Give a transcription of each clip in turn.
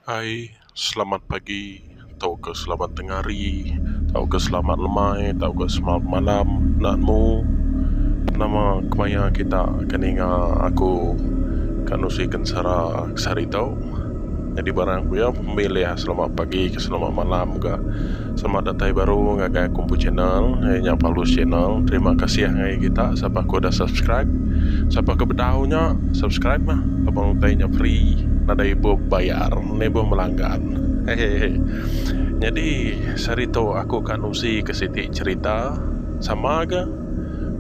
Ai selamat pagi tauka selamat tengah hari tauka selamat lemai tauka selamat malam enda nemu nama kemaya kita ke ninga aku ke nusi kensara seharitu. Nyadi barang ku iya pemilih selamat pagi ke selamat malam ka. Selamat datai baru ngagai aku empu channel iya nya Paulus channel terima kasih ngagai kita sapa aku dah subscribe sapa ke bedau nya subscribe mah laban utai nya free nadai ibuh bayar ne ibuh melanggan hehehe nyadi sehari tu aku ka nusi ke siti cerita sama ga.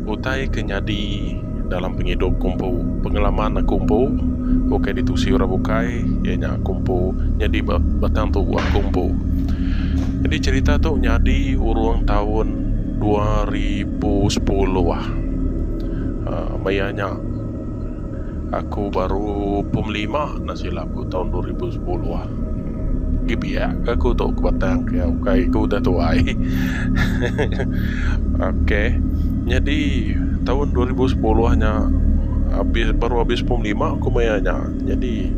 Utai ke nyadi dalam pengidup ku empu, pengalaman aku empu ukai ditusi orang bukai iya nya aku empu nyadi ba batang tubuh aku empu. Jadi cherita tu nyadi urung taun dua ribu sepuluh uhh maya nya. Aku baru pemlima enda silap aku taun dua ribu sepuluh. Agi biak ke aku tu ke batang ke iya ukai aku udah tuai. ok nyadi taun dua ribu sepuluh nya abis baru abis pemlima aku maya nya. Nyadi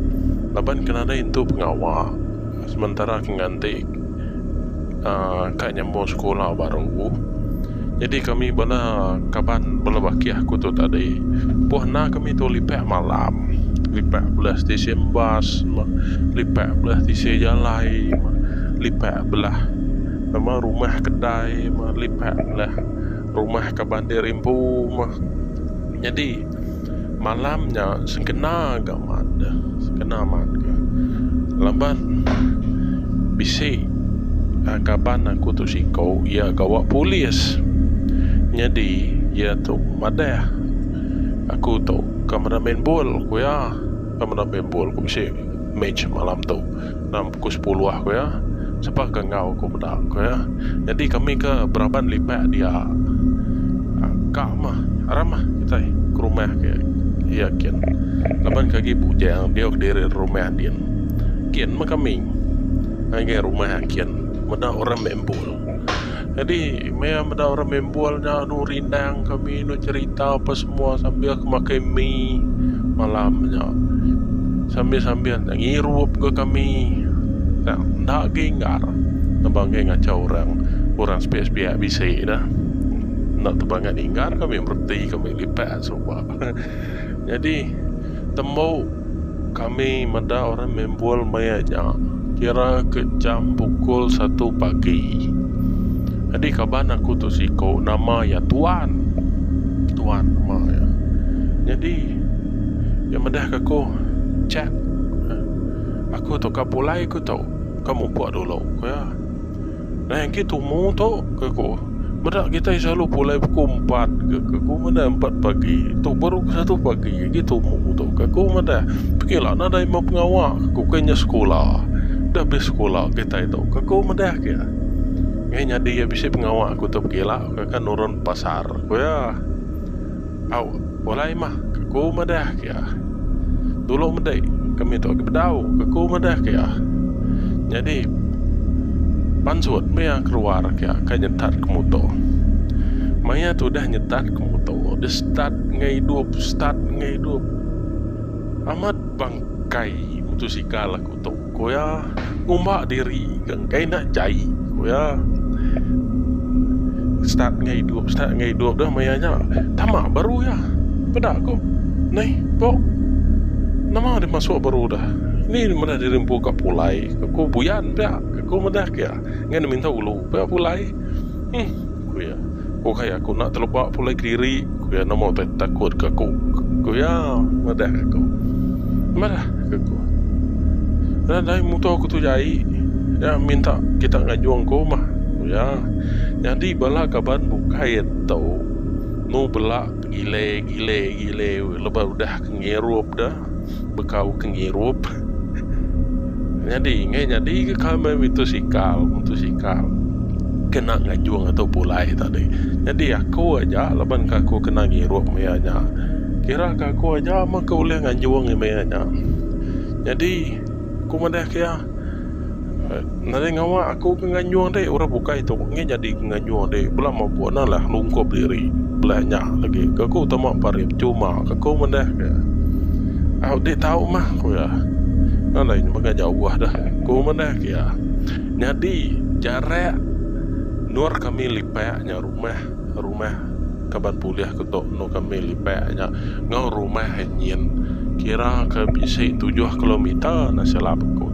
laban ke nadai intu pengawa sementara ke nganti. uhh ka nyambung sekula baru jadi kami bala kaban bala bakih aku tu tadi pun enda kami tu lipak malam lipak bala stesen bas lipak bala stesen jalai lipak bala nama rumah kedai lipak bala rumah kaban diri empu mah jadi. Malam nya sengkena ga mat deh. Sengkena mat ga. Laban bisi kaban aku tu siko iya gawa polis. Nyadi iya tu madah aku tu ke meda main bol ku iya. Ke meda main bol ku bisi match malam tu. Dalam pukul sepuluh aku iya sapa ke enggau aku meda aku iya. Nyadi kami ke beraban lipat dia ka mah aram mah kitai ke rumah ke iya kin laban ke agi bujang diau kediri rumah din kin meh kami ngagai rumah kin meda orang meh embul. Jadi maya meda orang bimbul nya anu rindang kami anu cerita apa semua sambil ke makai mi malam nya. Sambil-sambil nya ngirup ke kami. Nya enda agi inggar nebang agi ngaca orang orang sepiak-sepiak bisi dah. Enda tebangat inggar kami bereti kami lipat suba. Nyadi tembu kami meda orang mimbul maya nya kira ke jam pukul satu pagi. Nyadi kaban aku tu siko nama iya Tuan. Tuan nama iya. Nyadi iya madah ke aku Jack aku tu ka pulai aku tu ka mupuk dulu ku iya. Nai agi tumu tu ke ku. Meda kitai selalu pulai pukul empat ke ke ku meda empat pagi tu baru ke satu pagi agi tumu tu ke ku meda. Pengila nadai meh pengawa ke ku ke nya sekula. Dah best sekula kitai tu ke ku meda ke. Ngai nyadi iya bisi pengawa ku tu pengila ke ka nurun pasar ku iya. Au, pulai mah, ke ku madah ke iya. Dulu meda kami tu agi bedau, ke ku madah ke iya. Nyadi pansut meh iya keluar ke iya kai nyetat ke muto. Maya tu udah nyetat ke muto, deh start enggau idup, start enggau idup. Amat bangkai mutosikal aku. tu ku iya ngumba diri ke enggai enda jai ku iya start enggau idup start enggau idup dah maya nya tama baru iya peda ku neh pok nama deh masuk baru dah ni meda diri empu ka pulai ku ko buyan pia ku meda ke iya ngan minta ulu pia pulai um ku iya. Ku iya, aku enda teleba pulai kediri, ku iya nama utai takut ke aku, ku iya madahka aku. Mehlah, ku aku. Enda dai muto ku tu jai, nya minta kita nganjung ku mah, ku iya. Nyadi bala kaban bukai ento nu bela tegile gile gile lebuh udah ke ngirup deh. bekau ke ngirup nyadi ngai nyadi ke kamai mitusikal mutusikal kena ngajung ato pulai tadi nyadi aku aja laban ka aku kena ngirup maya nya kira ka aku aja meh ke ulih ngajung maya nya nyadi ku madah ke iya. Nadai ngawa aku ke nganjung deh orang bukai tu ngi nyadi ke nganjung deh bela mabuk enda lah lungkup diri bela nya legi ke ku tama parip cuma ke ku mendeh ke au deh tau mah ku iya nya alai mega jauh deh ku mendeh ke iya nyadi jarak endur kami lipak nya rumah. Rumah kaban pulih ke tu enu kami lipak nya enggau rumah nyin kira ke bisi tujuh kilometer enda silap aku.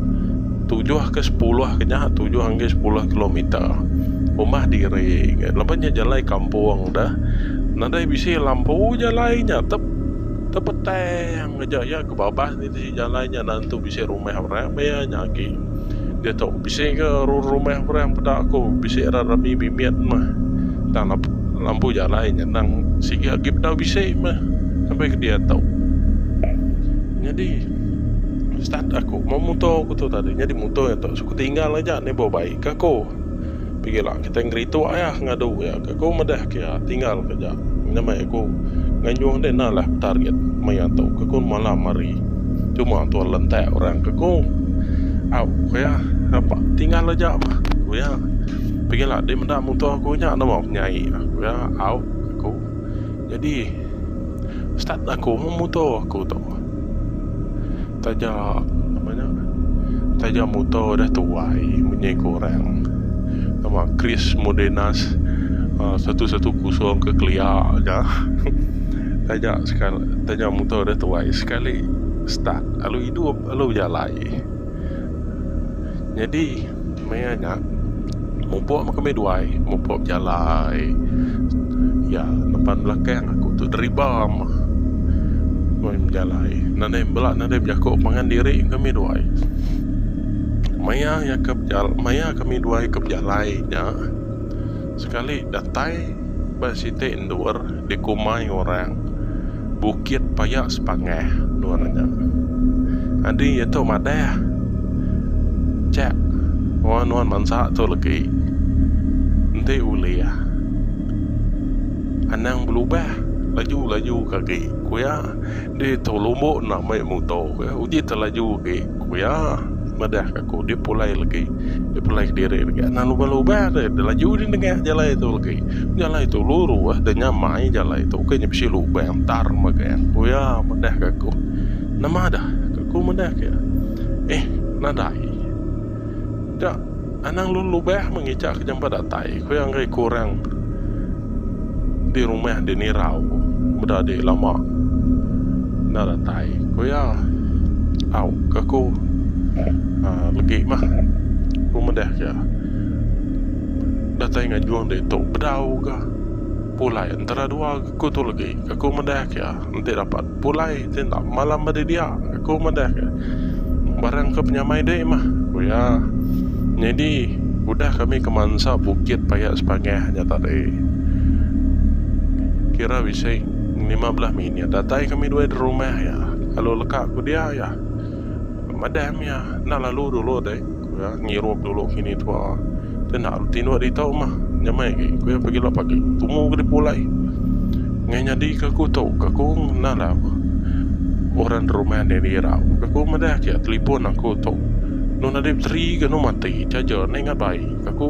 Tujuh ke sepuluh ke nya, tujuh enggai sepuluh kilometer. Rumah diri enggai. Laban nya jalai kampung deh. Nadai bisi lampu jalai nya. Tep tepetang aja iya ke babas niti jalai nya enda nentu bisi rumah orang maya nya agi. Diatu bisi ke rumah orang peda aku bisi rat rami mimit meh tang lampu jalai nyenang sigi agi bedau bisi meh sampai ke diatu nyadi start aku motor aku tu tadi nyadi motor tu suka tinggal aja neh bau bai ke aku. Pegila kitai ngerituk iya ngadu iya ke ku medah ke iya tinggal ke ja nyamai aku nganjung deh nah lah target meh iya tu ke ku malam hari cuma tuan lentak orang ke ku au ke iya apa tinggal aja mah ku iya pegila deh meda muto aku nya nama penyai ku iya au ke ku jadi start aku meh muto aku tu. Taja apa nya taja muto dah tuai munyi ku orang nama Chris Modenas uh, satu satu kosong ke kelia aja taja sekali taja muto dah tuai sekali start lalu idup lalu bejalai. Nyadi maya nya mupuk meh kami duai mupuk bejalai iya nempan belakang aku tu deriba meh meh bejalai nadai bela nadai bejaku pangan diri kami duai maya iya ka maya kami duai ka bejalai nya sekali datai Ba siti endur dikumbai orang Bukit Paya Sepangah endur nya. Adi iya tu madah chak enggau nuan bansa tu legi enti ulih anang belubah laju-laju ke agi ku iya ditu lombo enda mei muto uji te laju agi. Ku iya, madahka aku, dia pulai legi. Dia pulai kediri legi. Anang lubah-lubah deh, dia laju di nengah jalai tu legi. Jalai tu luru ah, dia nyamai jalai tu ke nya bisi lubang tar megang. Ku iya madahka aku, Nama dah? Ku aku madahka iya, Eh, nadai. Dak. Anang lu lubah mengica ke jampat datai ku iya enggai kurang di rumah di Nirau meda di lama enda datai ku iya. Au ke ku uhh legi mah ku meda ke datai ngajung ditu bedau ga pulai entara dua ku tu legi ke ku meda ke enti dapat. Pulai ti enda malam ba didia, aku madahka. Barang ke penyamai deh mah, ku iya. Nyadi, udah kami ke mansa bukit paya sepangah nya tadi. Kira bisi lima belah minit datai kami dua di rumah iya. Lalu leka ku dia iya. Madah mih iya, enda lalu dulu deh. Aku ya ngirup dulu kini tua. Tenda lu tinduk di tau mah. Nyamai ke aku ya pagi lah pagi. Tumu ke dipulai. Ngai nyadi ke aku tau ke aku nah lah. Orang rumah ni di irau. Ke aku madah ke telefon aku tau. Nu nadip teri ke nu mati. Charger ni ingat baik. Ke aku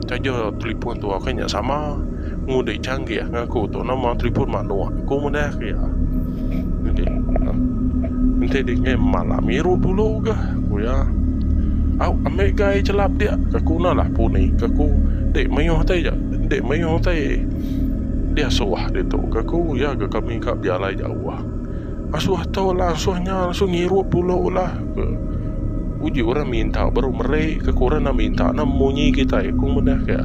Taja telipun tu aka nya sama ngundi changgih ngaku tu nama telipun manuk ku meda ke iya. Jadi enti dingi malam miru dulu ga ku iya. Au ambi gai chelap dia ka ku na lah puni ka ku dek mayuh tai ja dek mayuh tai dia suah ditu ka ku iya ga kami ka bialai jauh. Asuh tu lah asuh nya asuh ngirup dulu lah ke uji orang minta baru meri ke ku orang enda minta enda munyi kitai ku meda ke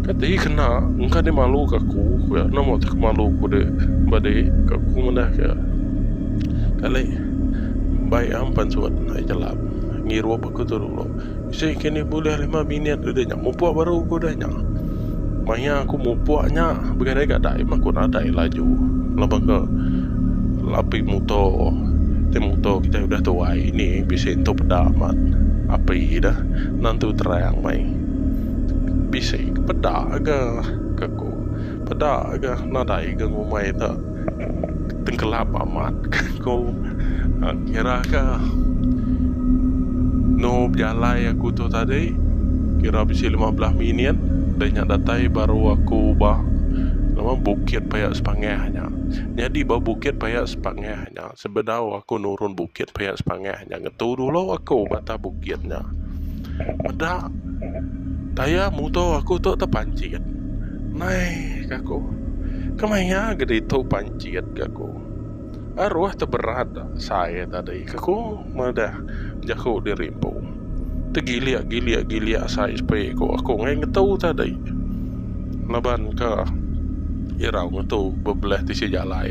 kati kena engka di malu ke aku ku ya nama tu malu ku de ba de ke ku meda ke kali bai am pansut ai jalap ngirup aku tu dulu. Sik ke ni bulih lima minit udah nya mupuk baru ku udah nya. Maya aku mupuk nya bagi dai ga dai mah ku nadai laju laban ke api muto ti muto kitai udah tuai ni bisi entu peda amat api deh nentu terang meh bisi peda ga ke ku peda ga nadai ga ngumbai te. tengkelap amat ko kira ke no bejalai aku tu tadi kira bisi lima belas minit dah nya datai baru aku ba bukit paya sepangah nya nyadi ba bukit paya sepangah nya. Sebedau aku nurun bukit pia sepangah nya ngetu dulu aku batah bukit nya. Meda tayar muto aku tu tepancit. Nai ka aku. Kemaya ga ditu pancit ka aku. Aruh teberat sai tadi ka aku madah jaku diri empu. Tegilik gilik gilik asai sepi ku aku ngai ngetu tadi laban ke irau ngetu bebelah tisi jalai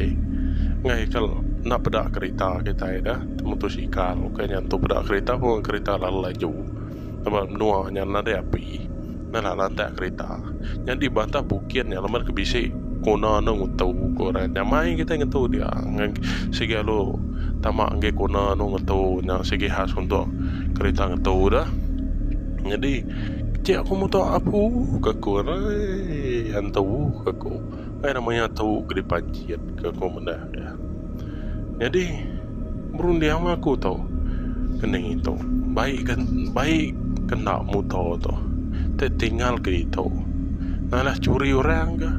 ngai ke enda peda kerita kitai da motosikal ukai nya tu peda kerita pun kerita lalu laju laban menua nya nadai api. Nalah lantak kerita nya di batah bukit nya lemat ke bisi kuna anu ngetu ku orang nya mai kitai ngetu dia sigi alu tama enggi kuna anu ngetu nya sigi khas untuk kerita ngetu dah nyadi kecik aku muta apu ke aku ai antu ke aku ai nama iya tu ke dipanjit ke aku meda. Nyadi berundinglah aku tu ngening itu. Baik ke baik kena muto tu. Ti tinggal ke ditu. Nalah curi orang ke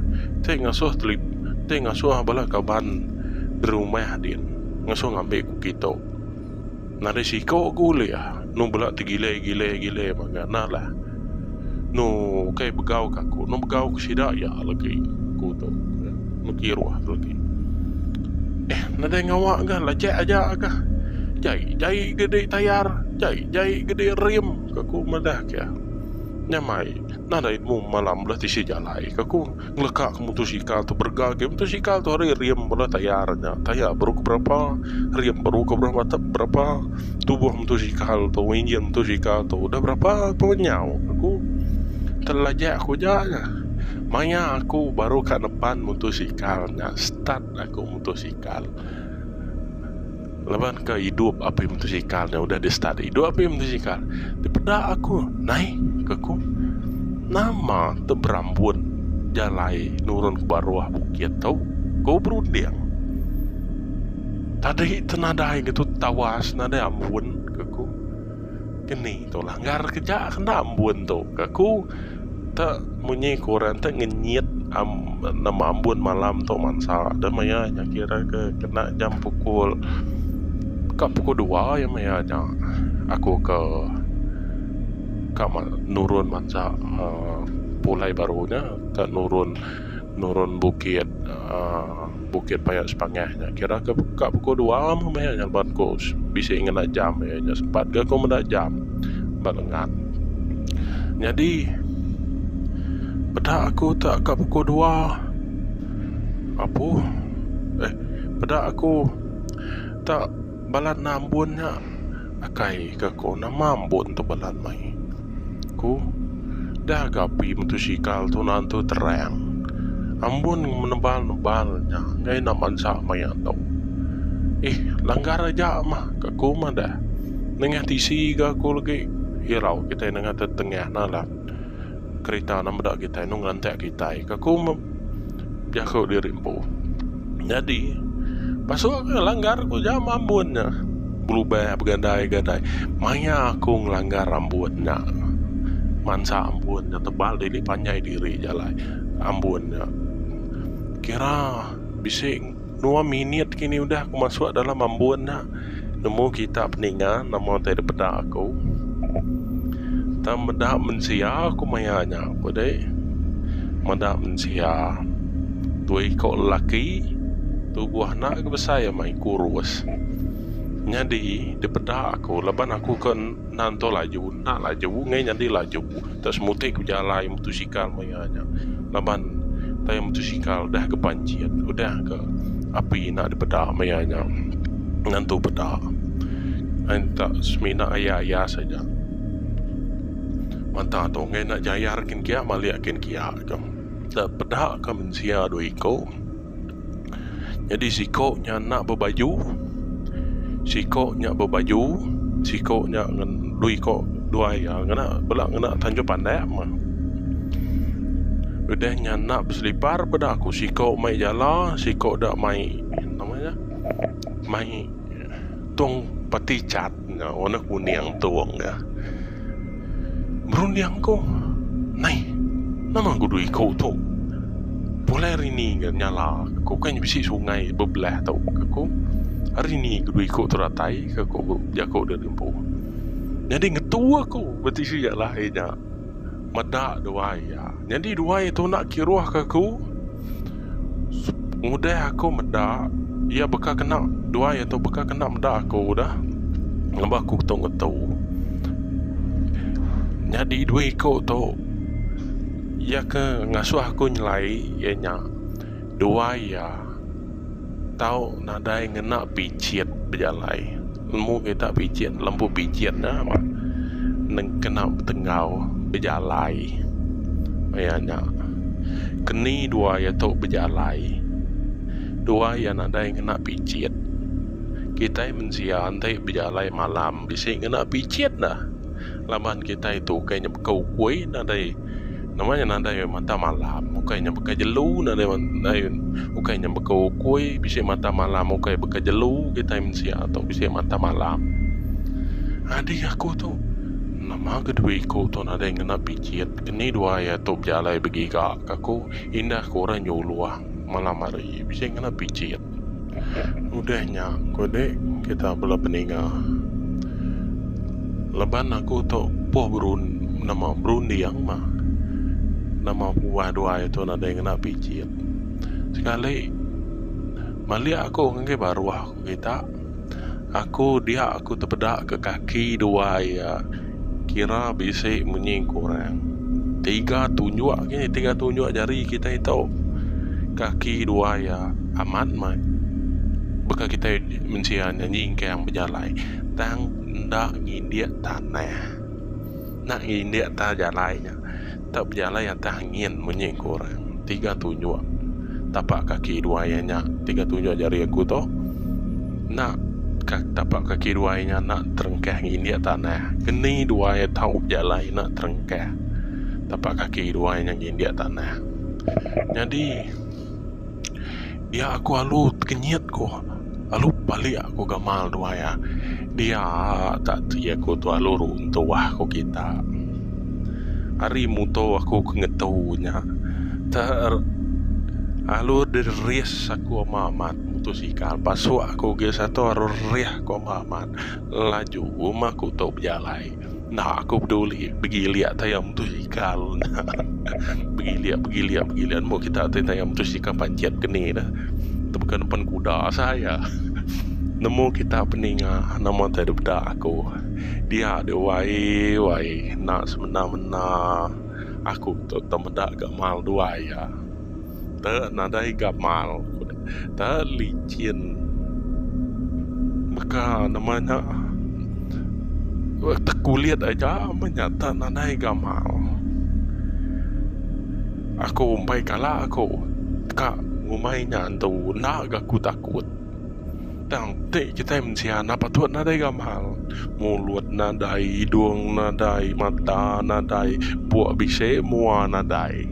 ti ngasuh teli ti ngasuh bala kaban berumah din ngasuh ngambi ku kitu. Nadai siko ke ulih nu bela tegilai gilai gilai mega nah lah nu ukai begau ke aku nu begau ke sida iya legi aku tu nu kiruh tu legi eh nadai ngawa ga lajak aja ga jai jai ga di tayar jai jai ga di rim ke aku madah ke nyamai nadai mu malam bela tisi jalai ke aku. ngeleka ke motosikal tu berega agi motosikal tu hari rim bala tayar nya tayar baru ke berapa rim baru ke berapa tep berapa tubuh motosikal tu enjin motosikal tu dah berapa pun nyau aku terlajak aku ja nya maya aku baru ka nepan motosikal nya start aku motosikal Laban ka idup api motosikal nya udah di start. Idup api motosikal. Dipeda aku, nai ke ku. Nama te berambut jalai nurun ke baruh bukit tu ku berunding. Tadi te nadai ngetu tawas nadai ambun ke ku. Keni tu langgar ke ja kena ambun tu ke aku te munyi ke orang te ngenyit nama ambun malam tu mansa de maya nya kira ke kena jam pukul ka pukul dua iya maya nya aku ke ka nurun mansa uhh pulai baru nya ka nurun nurun bukit uhh. Bukit Payat Sepangah nya kira ke ka pukul dua meh meh nya leban ku bisi ngena jam iya nya sempat ga ku meda jam ba lengan. Nyadi peda aku tak ka pukul dua apu eh peda aku tak. Balat nambun nya akai ka ko nama ambun tu balat mai ku dah ga api motosikal tu nantu terang ambun menebal nebal nya enggai enda mansa maya tu eh langgar aja mah ka ku mah dah nengah tisi ga ku lagi irau kitai nengah tetengah nalah kerita meda kitai enu ngelantak kitai ka ku. Jaku diri empu. Nyadi, pasu aku ngelanggar ku jam ambun nya. Belubeh begandai-gandai. Maya aku ngelanggar ambun nya. Mansa ambun nya tebal dili panjai diri jalai ambun nya. Kira bisi. Dua minit kini udah aku masuk dalam ambun nya. Nemu kita peninga nama utai dipeda aku. Tang meda mensia aku maya nya ku deh. Meda mensia. Dua iko lelaki tubuh enda lagi besai amai kurus. Nyadi dipeda aku laban aku ke enda entu laju enda laju enggai nyadi laju. Enda semuti ku bejalai mutosikal maya. Laban tayar motosikal dah ke panjit udah ke api enda dipeda maya nya ngantu peda enta semina aya-aya saja mata tu enggai enda jayar kin kia malik kin kia ka enda peda ka mensia dua iku. Nyadi siko nya enda bebaju, siko nya bebaju, siko nya dua iko dua iya ngena bela ngena tanjung pandak mah. Udah nya enda beselipar peda ku siko mai jala siko da mai nama nya mai tung peti chat nya warna kuning tung nya. Berunding ku, Nai, nama ku dua iku tu? Pulai hari ni ga nyala, ke ku, kan bisi sungai bebelah tu, ke ku. Hari ni ke dua iku tu datai, ke ku jaku dep empu. Nyadi ngetu aku beti sia lah iya nya. Meda duai iya. Nyadi duai tu enda kiruhka aku ngudah aku meda iya baka kena duai tu baka kena meda aku udah ngambah aku ketu ngetu. Nyadi duai ku tu iya ke ngasuh aku nyelai iya nya. Dua iya tau nadai ngena pijit bejalai. Lemu kita pijit lembu pijit nya mah nengkena betenggau bejalai. Maya nya keni dua iya tu bejalai dua iya nadai ngena pijit. Kitai mensia enti bejalai malam bisi ngena pijit dah. Laban kitai tu ukai nya baka ukui nadai nama nya nadai mata malam ukai nya baka jelu nadai nadai ukai nya baka ukui bisi mata malam ukai baka jelu kitai mensia tu bisi mata malam. Adik aku tu nama ke due iku tu nadai ngena pijit keni dua iya tu bejalai begiga ka ku indah ku orang nyuluh malam hari bisi ngena pijit. Udah nya ku dek kita bela peninga leban aku tu poh nama berunding mah nama pembuah dua itu nadai ngena pijit sekali meli aku ngagai baruh kita. Aku dia aku tepeda ke kaki dua iya kira bisi munyi kurang tiga tunjuk ke tiga tunjuk jari kitai tu kaki dua iya amat meh baka kitai mensia nya nyingkang bejalai tang enda ngindik tanah enda ngindik atas jalai nya. Enda bejalai atas angin munyi ku orang. Tiga tunjuk tapak kaki dua iya nya, tiga tunjuk jari aku tu enda tapak kaki dua iya nya enda terengkah ngindik tanah. Keni dua iya tau bejalai enda terengkah tapak kaki dua iya nya ngindik tanah. Nyadi. Dia aku alu tekenyit ku alu palik aku gamal dua iya. Dia tak ti aku tu alu runtuh ku kita. Ari muto aku ke ngetu nya te alu deris aku amat amat mutosikal pasu aku ge satu aru rerih ku amat amat laju meh aku tu bejalai. Enda aku peduli begilik tayau mutosikal enda begilik begilik begilik mun kita ti tayau mutosikal pancit ke ni dah tebeka nempan kuda saja nemu kita peninga nama enti dep deka aku dia agi wae wae enda semena mena aku tu tau meda ga mal duai iya. Te nadai gamal te licin baka nama nya te kulit aja meh nya te nadai gamal aku umpai kala aku ka ngumbai nya antu enda ga ku takut. Tang ti kitai mensia enda patut nadai gamal. Mulut nadai, hidung nadai, mata nadai, puk bisi mua nadai.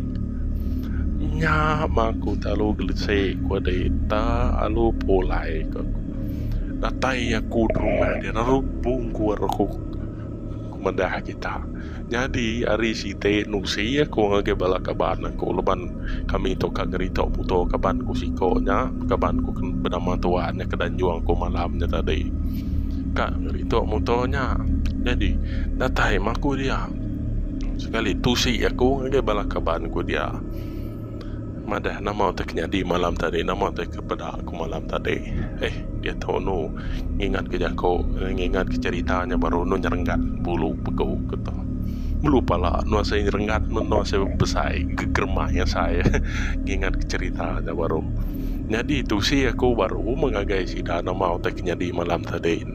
Nya mah aku ti alu gelesi ku dita alu pulai ku. Datai aku dulu meh dia lalu bungkur aku. madah kita. Nyadi ari siti nusi aku ngagai bala kaban aku laban kami tu ka ngerita muto kaban ku siko nya kaban ku benama tuan nya ke danjung aku malam nya tadi ka ngerita muto nya nyadi datai mah aku dia sekali tusi aku ngagai bala kaban ku dia madah nama tu ke nyadi malam tadi nama tu ke. Peda aku malam tadi. Eh, diatu anu ngingatka jaku, ngingatka cherita nya baru anu nyerenggat bulu pegu ku tu. Melu pala anu asai nyerenggat meh anu asai besai gegeremai asai ngingatka cherita nya baru. Nyadi tusi aku baru meh ngagai sida nama utai ke nyadi malam tadi.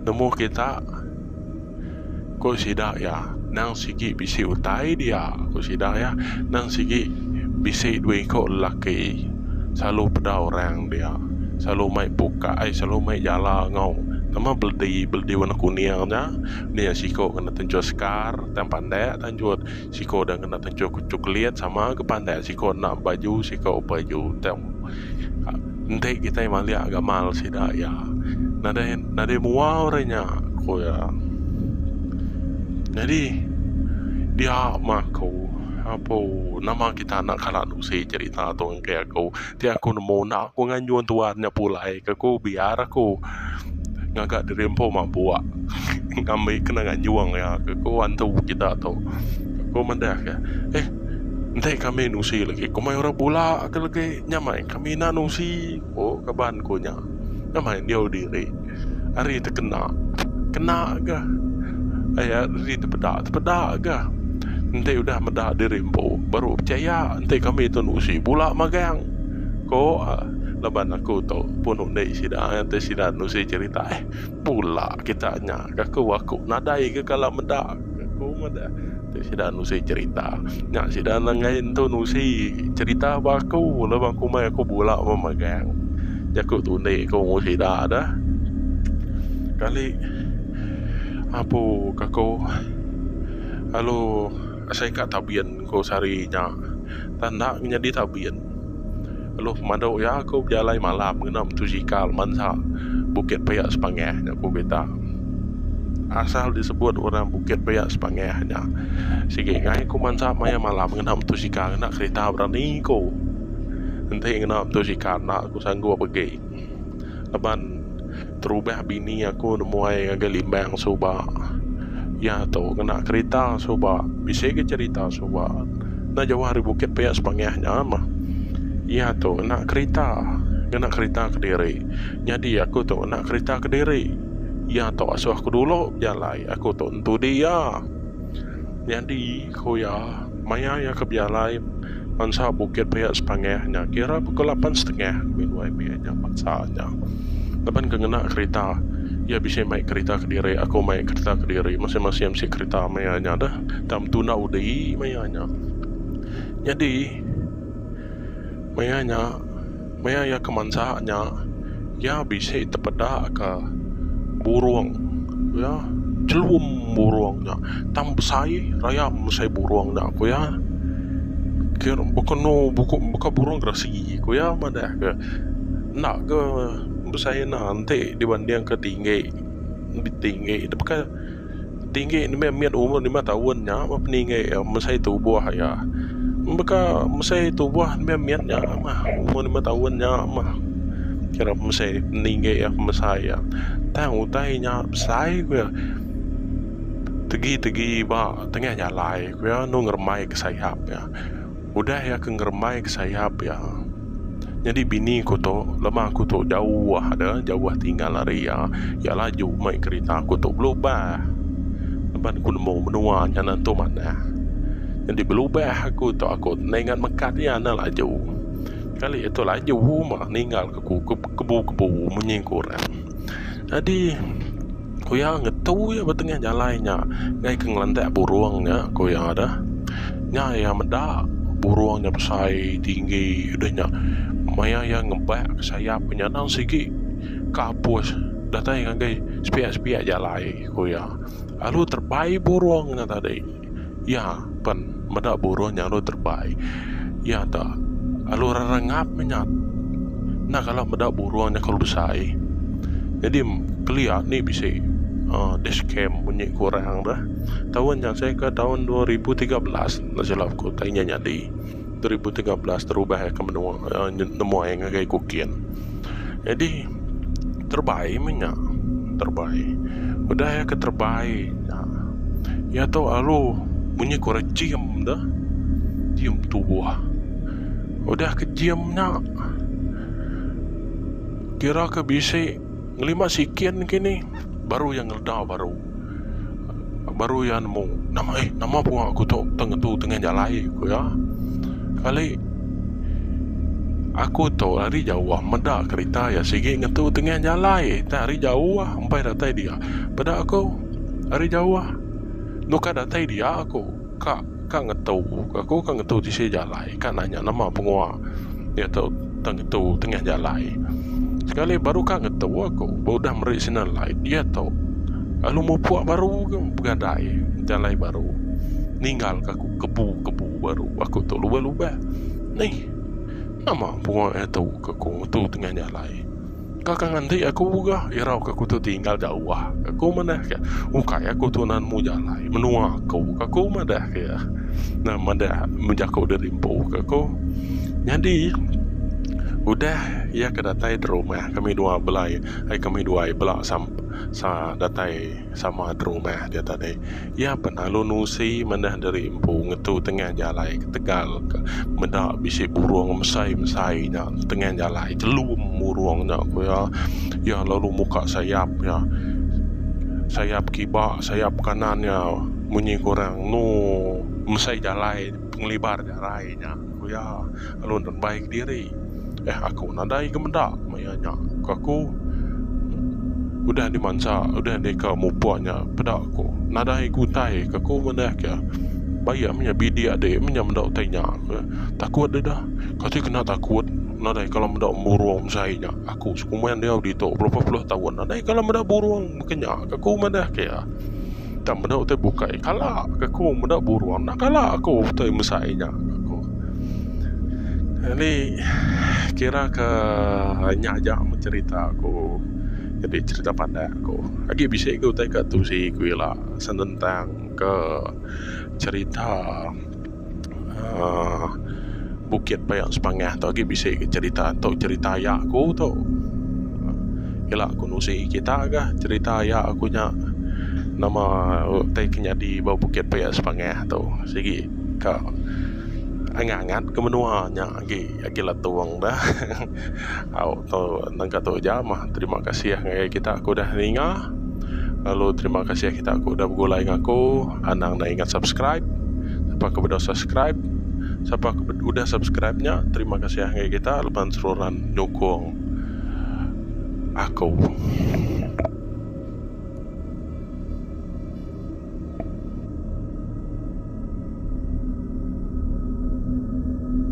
Nemu kita. Ku sida iya, nang sigi bisi utai dia, ku sida iya, nang sigi bisi dua iko lelaki selalu peda orang dia, selalu mai buka ai selalu mai jala enggau nama beledi, beledi warna kuning nya, nya siko kena tenjut sekar tang pandak tanjut. Siko udah ngena tencho ke choklit sama ga pandai siko enda baju siko baju tang enti kitai malik gamal sida iya nadai nadai mua orang nya ku iya nyadi dia mah aku apu nama kita enda kala nusi cerita tu enggai aku. Ti aku nemu enda aku nganjung tuan nya pulai ke ku biar aku ngaga diri empu mabuk ngambi kena nganjung iya ke ku antu kita tu. Aku madah ke eh enti kami nusi lagi komai orang bula ke lagi nya meh kami enda nusi ku kaban ku nya. Nama endiau diri ari tekena kena ga aya ari tepeda tepeda ga enti udah meda diri empu baru pechaya enti kami tu enda usi bula magang ko laban aku tu pun undi sida nganti sida nusi cherita eh. Pula kita nya ka ku aku nadai ke kala meda ka ku meda tu sida nusi cerita nya sida nenggai entu nusi cerita ba aku le ba kumai aku bula ba megang jaku tu indi ku ngu sida da kali apu ka ku lalu asai ka tabin ku sehari nya. Tang enda nyadi tabin. Lalu pemadu iya aku bejalai malam ngena mutusikal mansa Bukit Paya Sepangah nya ku kita. Asal disebut orang Bukit Paya Sepangah nya sigi enggai ku mansa maya malam ngena mutusikal ngena kerita berani ku. Enti ngena mutusikal enda ku sanggup agi laban. Terubah bini aku nemuai ngagai limbang suba. Iya tu ngena kerita suba. Bisi ga cherita suba. Enda jauh ari bukit pia sepangah nya mah. Iya tu ngena kerita. Ngena kerita kediri. Nyadi aku tu ngena kerita kediri. Iya tu asoh aku dulu bejalai. Aku tu entudi iya. Nyadi, ku iya, maya iya ke Bialai mansa bukit pia sepangah nya kira pukul lapan setengah ngambika nuai mih nya mansa nya. Laban ke ngena kerita, iya bisi mai kerita kediri, aku mai kerita kediri, masing-masing bisi kerita maya nya deh. Tang betunda undi maya nya. Nyadi, maya nya. Maya iya ke mansa nya, iya bisi tepedaka burung iya chelum burung nya tang besai rayam mesai burung nya ku iya. Baka anu baka burung geresi ku iya madah ke enda ke besai enda enti dibandingka tinggi tinggi nya baka. Tinggi nembiak mit umur lima taun nya meh peninggi iya mesai tubuh iya. Baka mesai tubuh nembiak mit nya meh umur lima taun nya meh kira mesai peninggi iya pemesai iya. Tang utai nya besai ku iya tegi-tegi ba tengah jalai ku iya enu ngerembaika sayap iya. Udah iya ke ngerembai ke sayap iya. Nyadi bini aku tu, lema aku tu jauh da, jauh tinggal ari iya, iya laju mei kerita aku tu belubah. Laban aku nemu menua nya nentu manah. Nyadi belubah aku tu aku ningat mekat iya enda laju. Kali iya tu laju meh ninggalka aku ke kebu-kebu munyi ke orang. Nyadi ku iya ngetu iya ba tengah jalai nya ngaih ke ngelantak burung nya ku iya da. Nya iya meda burung nya besai tinggi deh nya maya iya ngebak sayap nya nang sigi ka apus datai ngagai sepiak-sepiak jalai ku iya lalu terbai burung nya tadi. Iya pen meda buruh nya lalu terebai. Iya ta lalu rerengap menyat. Enda kala meda buruh nya kalu besai. Nyadi kelia nih bisi uhh dash cam bunyi ku orang deh. Taun nya seh ke taun dua ribu tiga belas enda silap ku tai nya nyadi. dua ribu tiga belas terubah ke menua nemuai ngagai ku kin jadi terbai meh nya terbai udah iya ke terbai nya iya tu alu munyi ku rejim tu jim tubuh udah ke jim nya kira ke bisi Ngelima sikin kini baru iya ngeleda baru baru iya nemu nama eh nama pua aku tu tang ngetu tengah jalai ku iya. Kali aku tu ari jauh meda kerita iya sigi ngetu tengah jalai tang ari jauh empai datai dia peda aku ari jauh nukar datai dia aku. Ka ka ngetu aku ka ngetu tisi jalai ka nanya nama pengua nya tu tang ngetu tengah jalai sekali baru ka ngetu aku ba udah meri signal light iya tu lalu mupuk baru ke begadai jalai baru ninggal ka aku kebu kebu baru aku tu lubah lubah neh nama pengua nya tu ka aku ngetu tengah jalai. Kaka nganti aku ga irau ke kutu tinggal jauh ka ku madah ke ukai aku tunan mu jalai menua aku ka ku madah ke nah madah menjaku diri empu ka ku nyadi udah iya ke datai derumah kami dua belai ai kami duai bela sam sa datai sama derumah dia tadi Iya penalu nusi manah diri empu ngetu tengah jalai ketegal ka meda bisi burung mesai-mesai nya tengah jalai telum burung nya ku iya. Iya lalu muka sayap iya. Sayap kiba sayap kanan iya munyi kurang enu mesai jalai pengelibar jalai nya ku iya. lalu endang bai kediri. Eh aku nadai ga meda maya nya ku aku udah dimansa udah deka mupuk nya peda ku nadai ga utai ku aku manah ke bai iya meh bidik adi meh nya meda utai nya ke takut deda kati kena takut nadai kala meda burung besai nya aku sekuman diau ditu belapan puluh taun nadai kala meda burung baka nya ku aku manah ke iya. Enda meda utai bukai kala ke ku meda buruan enda kala aku utai mesai nya aku. Jadi kira ke nya aja meh cerita aku nyadi cerita pandak aku. Agi bisi lagi utai ka tusi ku ila senentang ke cerita uh, Bukit Payak Sepangah tu agi bisi ke cerita tu cerita ya aku tu ila aku nusi kita ke cerita ya aku nya nama uh, tai kenyadi ba Bukit Payak Sepangah tu sigi ka angat-angat ke menua nya Agi agi latung dah au tu nengka tu aja mah terima kasih ngagai kita ku dah ninga lalu terima kasih kita ku dah begulai ngaku anang enda ingat subscribe siapa ke bedau subscribe siapa ke udah subscribe nya terima kasih ngagai kita laban seruran nyukung aku.